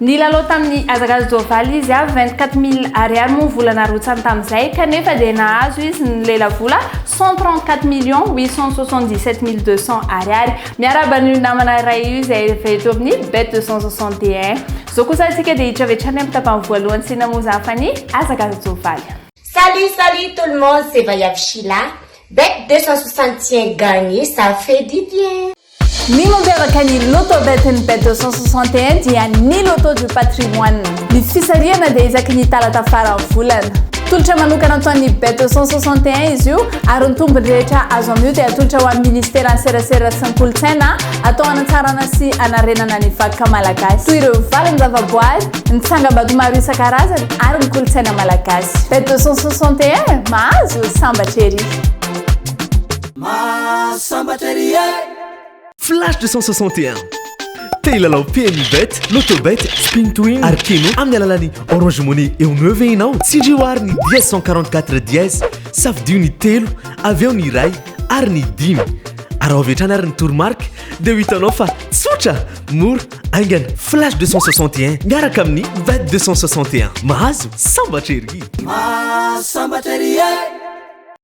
Nilalao tamin'ny hazakazaka Jovaly izy avy, vingt quatre mille ariary moa ny vola narotsany tamin'izay, kanefa dia nahazo izy ny lelavola cent trente quatre millions huit cent soixante dix sept mille deux cents ariary. Miarahaba an'io namana iray io izay efa eto amin'ny Bet deux cent soixante et un. Izao kosa isika dia hiditra avy hatrany amin'ny tapany voalohany sy namozaha fa ny hazakazaka Jovaly. Salut salut tout le monde c'est Vaiavy Shila, Bet deux cent soixante et un gagne ça fait du bien. Ny mampiavaka ny Loto Bet'Ny Bet 261 dia ny Loto du Patrimoine. Ny fisarihana dia isaky ny talata faran'ny volana. Tolotra manokana ataon'ny Bet 261 izy io ary ny tombony rehetra azo amin'io dia atolotra ho an'ny Ministeran'ny Serasera sy ny Kolontsaina atao hanatsarana sy hanarenana ny vakoka malagasy toy ireo valin-javaboary, ny tsangambato maro isan-karazany ary ny kolontsaina malagasy. Bet 261, mahazo sambatra ery! Mahasambatra ery eh! Flash 261. Te hilalao PMU Bet, Lotobet, Spin to Win ary Keno amin'ny alalan'ny Orange Money eo no ve ianao? Tsindrio ary ny dièse 144 dièse, safidio ny telo, avy eo ny iray ary ny dimy. Araho avy hatrany ary ny toromarika dia ho hitanao fa tsotra, mora, aingana. Flash 261 miaraka amin'ny Bet 261. Mahazo sambatra ery! Mahasambatra ery eh!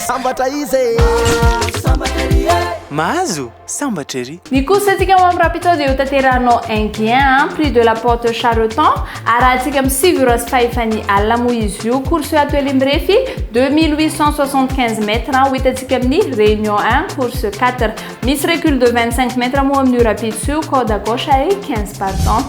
Sambatra izy e! Mahazo sambatra ery e! Mahazo sambatra ery! Ny course antsika ao amin'ny Rapido dia hotanterahinao Enghien an, Prix de la Porte Chareton, arahantsika amin'ny sivy ora sy fahefany alina moa izy io. Course io ato Ely mirefy, deux mille huit cent soixante quinze mètres, ho hitantsika amin'ny Réunion un, course quatre. Misy recul de vingt cinq mètres moa amin'io Rapidos io, corde à gauche ary quinze partants.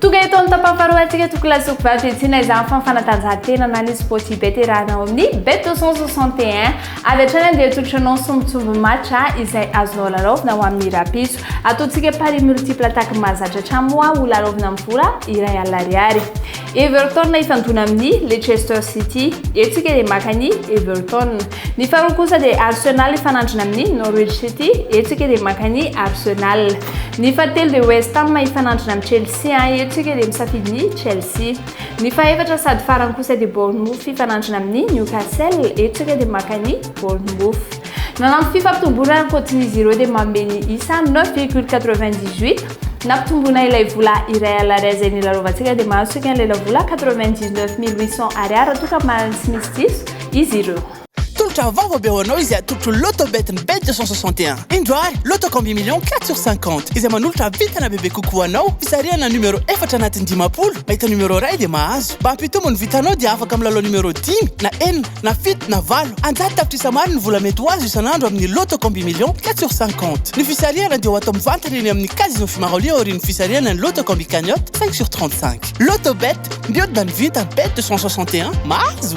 Tonga eto amin'ny tapany faharoa antsika Tokolahy sy Sokovavy hiantsena izany fanfanatanjahantena na ny sport ibet iarahana ao amin'ny bet 261. Avy hatrany andeha atolotra anao sombintsombiny match izay azonao lalaovina ho amin'ny rahampitso. Ataontsika paris multiple attaque mahazatra hatrany moa ho lalaovina amin'ny vola iray alina ariary. Everton hitandona amin'ny Leicester City. Eto isika dia maka an'i Everton. Ny faharoa kosa dia Arsenal hifanandrina amin'ny Norwich City, eto isika dia maka ny Arsenal. Ny fahatelo dia West Ham hifanandrina amin'ny Chelsea, eto isika dia misafidy ny Chelsea. Ny fahefatra sady farany kosa dia Bournemouth hifanandrina amin'ny Newcastle, eto isika dia maka ny Bournemouth. Nanampy fifampitomboana ankoatrin'izy ireo dia manome ny isa 9,98 nampitomboana ilay vola iray alarià izay nilalovantsika dia mahazo isika an'ilay lavola 99 mille 800 ariary raha toa ka mahazo sy misy diso izy ireo. Tolotra vaovao be ho anao izay atolotro Lotto Bet ny Bet 261. Indro ary, Lotto Combi Millions quatre sur cinquante, izay manolotra vintana bebe kokoa ho anao, fisarihana numéro efatra anatin'ny dimampolo, mahita numéro iray dia mahazo. Mba hampitombo ny vintanao dia afaka milalao numéro dimy, na enina, na fito, na valo. An-jato tapitrisa maro ny vola mety ho azo isan'andro amin'ny Lotto Combi Millions quatre sur cinquante. Ny fisarihana dia ho atao mivantana eny amin'ny Casino Fimaroli aorian'ny fisarihana ny Lotto Combi Cagnotte cinq sur trente-cinq. Lotto Bet, mihodina ny vintana, Bet deux cent soixante et un, mahazo!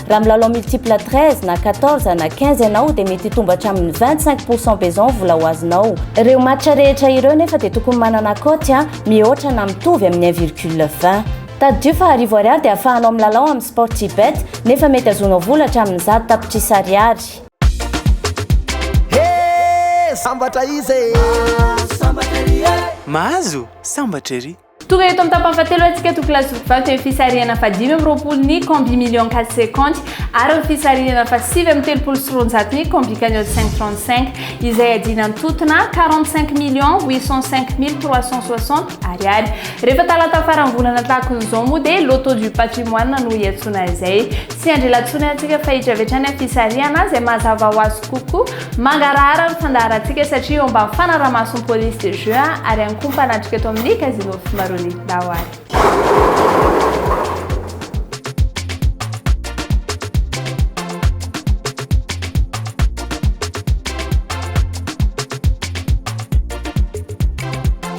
Raha milalao multiple 13 na 14 na 15 ianao dia mety hitombo hatramin'ny 25 pourcent beson vola ho azonao. Ireo match rehetra ireo nefa dia tokony manana cote a mihoatra na mitovy amin'ny 1 virgule 20. Tadidio fa arivo ariary dia ahafahanao milalao amin'ny Sportybet nefa mety azonao vola hatramin'ny zato tapitrisa ariary. He! Sambatra izy e! Mahazo sambatra ery! Tonga eto amin'ny tapany fahatelo antsika to class of faty amin'ny fisarihana fahadimy amby roapolo ny Combi Million Cas Seconty ary ny fisarihana fahasivy amby telopolo sy roanjato ny Combi Cagnotte Cinq Trente Cinq izay adiana amin'ny totona quarante cinq millions huit cent cinq mille trois cent soixante ariary. Rehefa talata faran'ny volana tahakon'izao moa dia Loto du Patrimoine no hiantsoana izay. Tsy hiandry ela intsony antsika fa hiditra avy hatrany amin'ny fisarihana izay mazava ho azy kokoa. Mangarahara ny fandaharantsika satria eo ambany fanaraha-mason'ny police de jeu ary ihany koa mpanatrika eto amin'ny Casino Fimarony Daohary.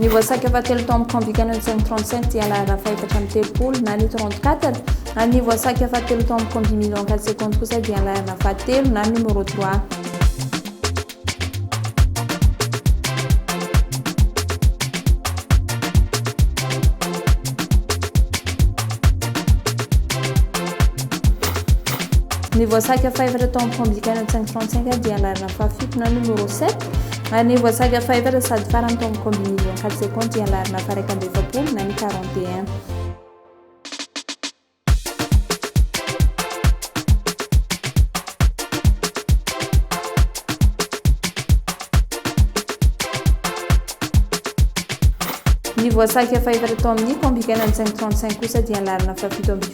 Ny voasaika fahatelo tao amin'ny Camp Canon 537 dia lahara fahefatra amin'ny telopolo na ny 34, ary ny voasaika fahatelo tao amin'ny Camp Vimilon 4 secondes kosa dia lahara fahatelo na numéro 3. Ny voasaika fahefatra tao amin'ny Camp Canon 535 dia lahara Fahafito na numéro sept, Maneho voasaga fahefatra sady farany tao amin'ny combinaison quatre secondes dia lary na faraika amby efapolo na ny quarante et un. Ny voasaga fahefatra tao amin'ny combinaison cinq trente cinq kosa dia lary na fahafito amby